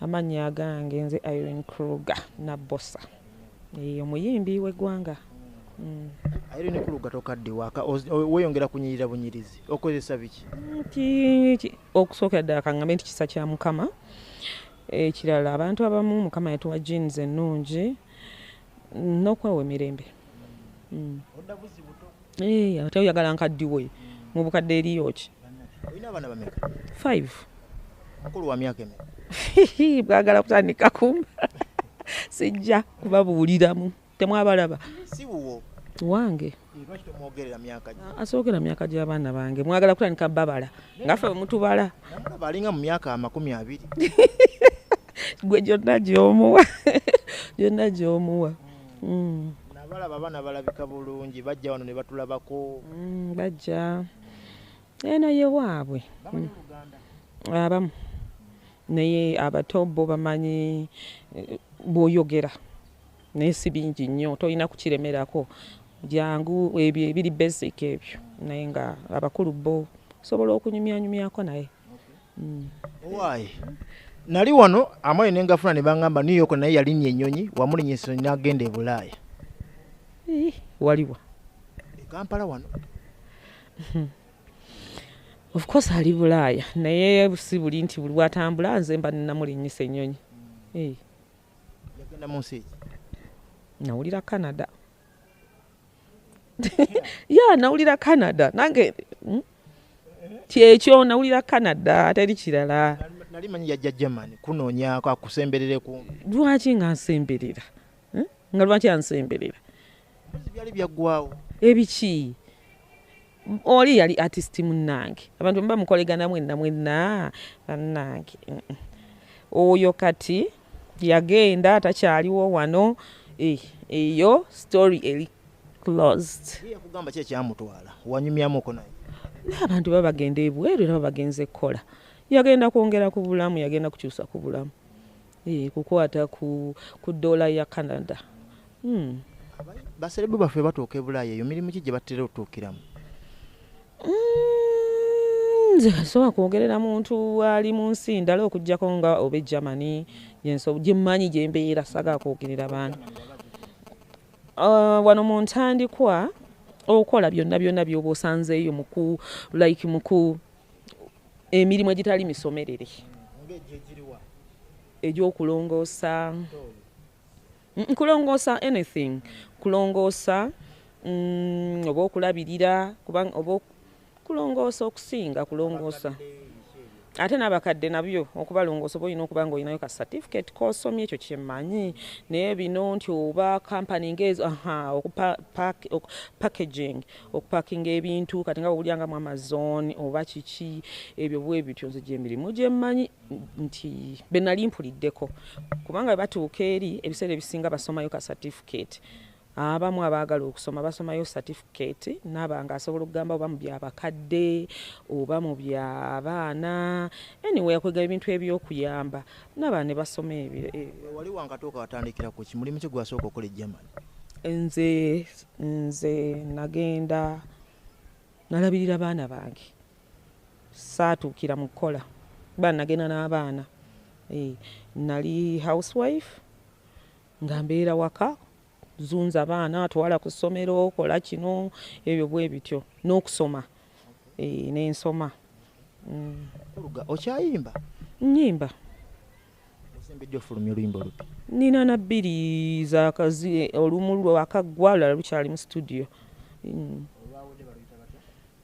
Amannya agange nze Irene Kruger Nabbosa, omuyimbi w'eggwanga. Mm. Irene Kruger tokadde waaka weyongera kunyirira bunyirizi okozesa biki? Okusookera ddala kaŋŋambe nti kisa kya Mukama. Ekirala abantu abamu Mukama yatuwa jeans ennungi n'okwewa emirembe. Mm. Odda buzibu tokwa. Eh, ate oyagala nkaddiwe mu bukadde eriyo ki olina abaana bameka five mukulu wa myaka emeka bwagala kutandika kumba sijja kubabuuliramu temwabalaba si wuwo wange eh, asookera myaka gy'abaana bange mwagala kutandika babala nga ffe bwemutubala alinga mu myaka amakumi abiri gwe gyonna gyomuwa gyonna gyomuwa mm. nabalaba abaana balabika bulungi bajja wano ne batulabako mm, bajja eno ye waabwe mm. abamu naye abato bo bamanyi eh, bwoyogera naye si bingi nnyo tolina kukiremerako jangu ebyo ebiri basic ebyo naye nga abakulu bo osobola okunyumyanyumyako naye Why? Nali wano amaye ne ngafuna ne bangamba New York naye yalinnya ennyonyi wamulinnya ennyonyi n'agenda e Bulaaya. Waliwa? E Kampala wano. Of course ali Bulaaya naye si buli nti buli watambula nze mba nnamulinnyisa ennyonyi. Hmm. Yagenda mu nsi eki? Nawulira Canada. Yeah, nawulira Canada. Nange. Hmm? kyekyo nawulira canada teri kirala nali manyi yajja german kunoonyako akusemberere ku lwaki nga nsemberera hmm? nga lwaki ansemberera byali byaggwawo ebiki oli yali artist munnange abantu mba mukoleganamu enna mwenna bannange oyo kati yagenda takyaliwo wano eh, eyo story eri closed yakugamba ki ekyamutwala wanyumyamuko naye abantu baba bagenda ebweru era baba bagenze kukola yagenda kwongera ku bulamu yagenda kukyusa ku bulamu eh, kukwata ku dola ya canada hmm. baserebu baffe batuuka ebulaaya eyo mirimu ki gye batera otuukiramu mm, nze kasobola kwogerera muntu ali mu nsi ndala okuggyako nga oba egermany gyemmanyi gyembeera saga kwogerera bantu uh, wano mu ntandikwa okola byonna byonna byoba osanzeeyo muku like muku emirimu egitali misomerere egyokulongoosa Mm, kulongoosa anything kulongoosa mm, oba okulabirira kubanga oba kulongoosa okusinga kulongoosa ate n'abakadde nabyo okubalongoosa oba olina okuba nga olinayo ka certificate kosomye ekyo kyemmanyi naye bino nti oba company ngaezo aha okupackaging okupakinga ebintu kati nga bwewulya nga mu amazon oba kiki ebyo bwe bityo nze gyemirimu gyemmanyi nti benali mpuliddeko kubanga batuuka eri ebiseera ebisinga basomayo ka certificate abamu abaagala okusoma basomayo certificate naaba nga asobola okugamba oba mu byabakadde oba mu byabaana anyway akwegaba ebintu ebyokuyamba naaba ne basoma ebyo e, wali wankatuuka watandikira ku ki mulimu ki gwasooka okola egermany nze nze nagenda nalabirira baana bange saatuukira mu kukola kuba nagenda n'abaana eh, nali housewife nga mbeera waka zunza abaana atwala ku ssomero kola kino ebyo bwe bityo n'okusoma eh, n'ensoma mm. okyayimba nyimba nina na bbiri zakazi olumu lwakaggwa lala lukyali mu situdiyo mm.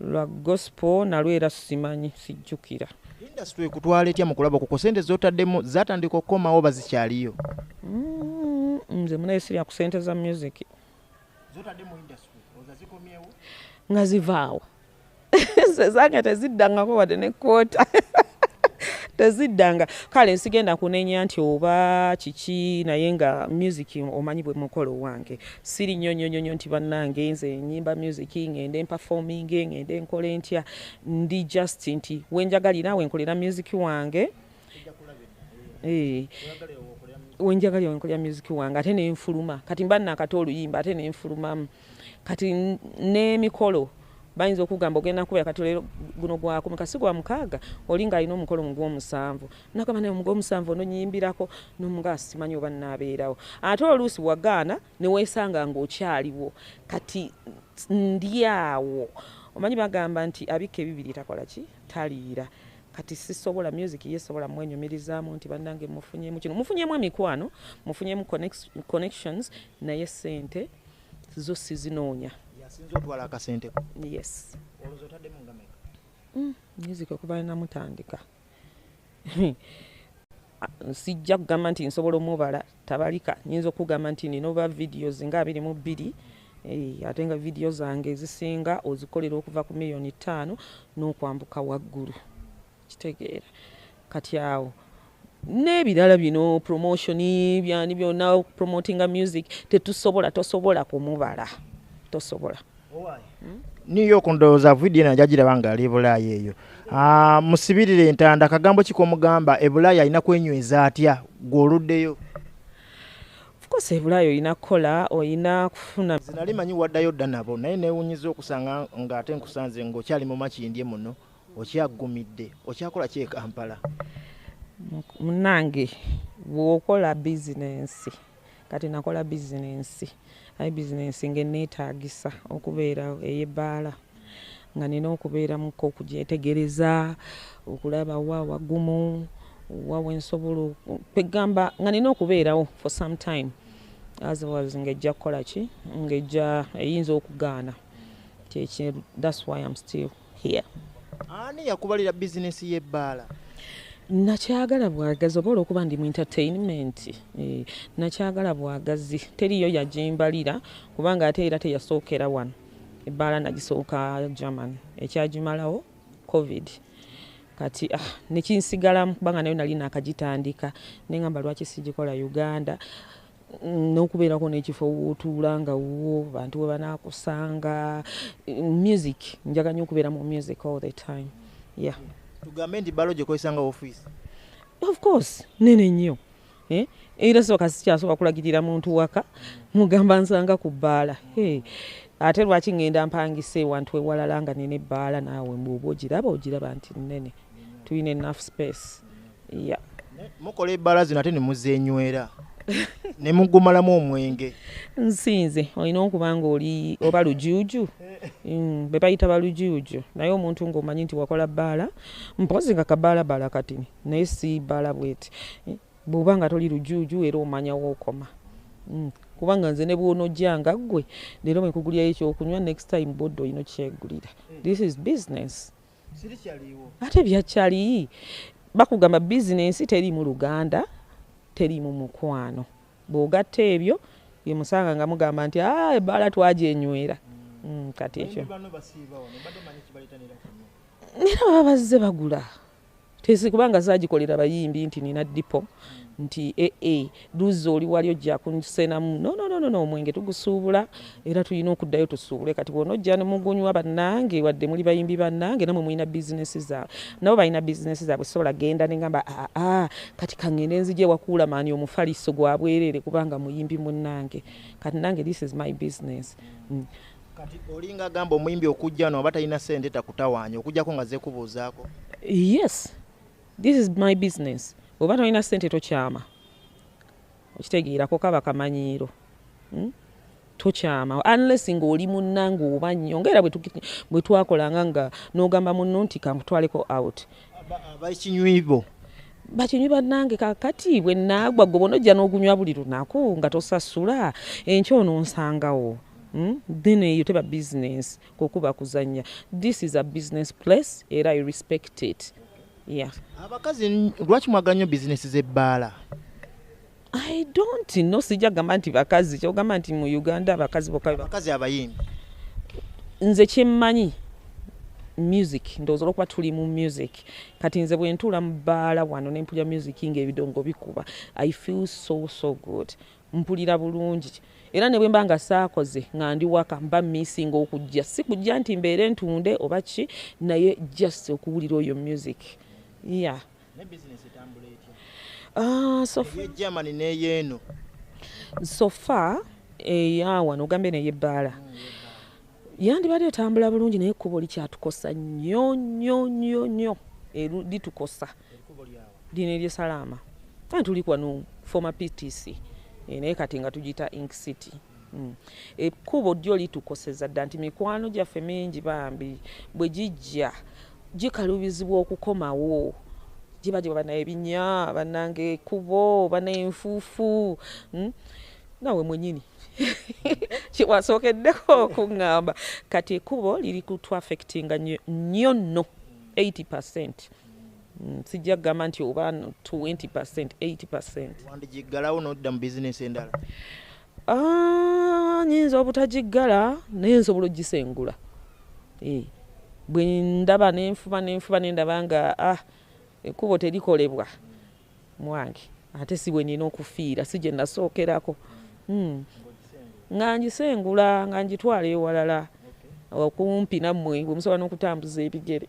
lwa gospel nalwo era simanyi sijjukira industry ekutwala etya mu kulaba kuko sente zotaddemu zatandika okukomawo bazikyaliyo mm, nze munaye sirya ku sente za music nga zivaawo zezange teziddangako wadde ne kwota teziddanga kale nsigenda kunenya nti oba kiki naye nga music omanyi bwe mukolo wange siri nnyo nnyo nnyo nti bannange nze nyimba music ngende mperforming ngende nkole ntya ndi just nti wenjagalira wenkolera music wange eh. wenjagalira wenkolera music wange ate nenfuluma kati mba nakata oluyimba ate nenfulumamu kati n'emikolo bayinza okugamba ogenda kubeera kati olero guno gwakumeka si gwa mukaaga oli ng'alina omukolo mu gw'omusanvu nagamba naye omuga omusanvu ono nyimbirako nomuga simanyi oba nabeerawo ate oluusi wagaana newesanga ngaokyaliwo kati ndyawo omanyi bagamba nti abikka ebibiri takola ki taliira kati sisobola music ye sobola mwenyumirizamu nti banange mufunyemu kino mufunyemu emikwano mufunyemu connections naye sente zo sizinoonya yes mm, music okuva namutandika mm, sijja kugamba nti nsobola omubala tabalika nyinza okugamba nti nina oba videos nga abiri mu bbiri eh, ate nga vidiyo zange ezisinga ozikolera okuva ku miliyoni ttaano n'okwambuka waggulu kitegeera kati awo n'ebirala bino promotion byani byona promotinga music tetusobola tosobola kumubala tosobola new york ndowooza vidiyo ena jagiraba nga ali ebulaaya eyo ah, musibirire entanda akagambo ki komugamba ebulaaya alina kwenyweza atya gweoluddeyo course ebulayo olina kukola olina kufuna zinali manyi waddayo dda nabo naye newunyiza okusanga nga ate nkusanze ngaokyali mu makindye muno okyaggumidde okyakola ki ekampala munange bwokola bizinensi kati nakola bizinensi aye bizinensi ngaeneetaagisa okubeera ey'ebbaala nga nina okubeeramuko okugyetegereza okulaba wa wagumu wa wensobola kwegamba nga nina okubeerawo for some time otherwise ng'ejja kukola ki ng'ejja eyinza okugaana kyekye that's why am still here ani yakubalira business ye bala nakyagala bwagazi oba olwokuba ndi mu entertainment eh, nakyagala bwagazi teriyo yagimbalira kubanga ate era teyasookera wano ebbaala nagisooka german ekyagimalawo covid kati ah, nekinsigalamu kubanga nayo nali nakagitandika nengamba lwaki sigikola uganda n'okubeerako n'ekifo wootuula nga wuwo bantu we banaakusanga music njaga nnyo okubeera mu music all the time yeah tugambe nti balo gyekozesa nga ofiisi of course nene nnyo eh? era soka sikyasobola kulagirira muntu waka mugamba nsanga ku bbaala ate lwaki ŋŋenda mpangisa ewantu ewalala nga nene ebbaala naawe mbu oba ogiraba ogiraba nti nnene tulina enaff space yeah. mukola ebbala zino ate nemuzenywera nemugumalamu omwenge nsinze olina okuba nga oli oba lujuuju mm, bebayita balujuuju naye omuntu ngaomanyi nti wakola bbaala mpozi nga kabaala baala kati naye si baala bweti eh, bwoba nga toli lujuuju era omanya wookoma mm, kubanga nze nebwonojanga ggwe leero mwekugulyayo ekyokunywa next time bodde olina okyegulira this is business ate byakyali bakugamba bizinensi teri mu luganda teri mu mukwano bwogatta ebyo yemusanga nga mugamba nti ah, ebaala twajenywera mm. mm, kati ekyo era baba bazze bagula Tesi kubanga zagikolera bayimbi nti nina dipo nti ee eh, eh, duzi oli wali ojja kunsenamu nononono omwenge tugusuubula era tulina okuddayo tusuubule kati bwona ojja nemugunywa bannange wadde muli bayimbi bannange namwe mulina bizinesi zaabwe nabo balina bizinesi zaabwe sobola genda nengamba aa ah, ah, kati kangende nzija ewakuula maani omufaliso gwa bwerere kubanga muyimbi munnange kati nange this is my business mm. kati olinga agamba omuyimbi okujja no aba talina sente takutawaanya okujjako nga zekubuuzaako yes this is my business oba tolina sente tokyama okitegeerako kaba kamanyiiro hmm? tokyama unless ng'oli munnange oba nnyo ngaera bwe twakolanga nga n'ogamba munno nti kankutwaleko out abakinywibo bakinywi bannange kakati bwe naagwa gwe bona ojja n'ogunywa buli lunaku nga tosasula enkya ono nsangawo Hmm? then eyo teba business kokuba kuzanya this is a business place era i respect it yeah abakazi lwaki mwagala nnyo bizinesi z'ebbaala i don't no sijja gamba nti bakazi kyogamba nti mu uganda abakazi bokabakazi abayimbi nze kyemmanyi music ndowooza olwokuba tuli mu music kati nze bwentuula mu bbaala wano nempulya music ngaebidongo bikuba i feel so so good mm. Mpulira bulungi era ne bwe mba nga saakoze nga ndi waka mba missing okujja si kujja nti mbeere ntunde oba ki naye just okuwulira oyo music ya ah, sofagermany neyeeno sofa eyawano ogambe neyebbaala mm, yandibadde etambula bulungi naye ekkubo likyatukosa nnyo nnyo nnyo nnyo litukosa lino erye salaama ani tuli kwano former ptc eh, naye kati nga tugiyita ink city hmm. ekkubo eh, dyo litukoseza dda nti mikwano gyaffe mingi bambi bwe gijja gikalubizibwa okukomawo giba giba bana ebinya banange ekubo bana enfuufu hmm. nawe mwenyini kyewasookeddeko okuŋŋamba kati ekubo liri kutwafectinga nnyo nno 80 percent mm. Mm, sijja kugamba nti oba 20 percent 80 percent wandigiggalawo nodda mu bizinesi endala ah, nyinza obutagiggala naye nsobola ogisengula eh, bwe ndaba nenfuba nenfuba nendaba nga ah, ekkubo terikolebwa mwange ate si bwe nina okufiira si gye nasookerako hmm. nga ngisengula nga ngitwala ewalala okumpi nammwe bwe musobola n'okutambuza ebigere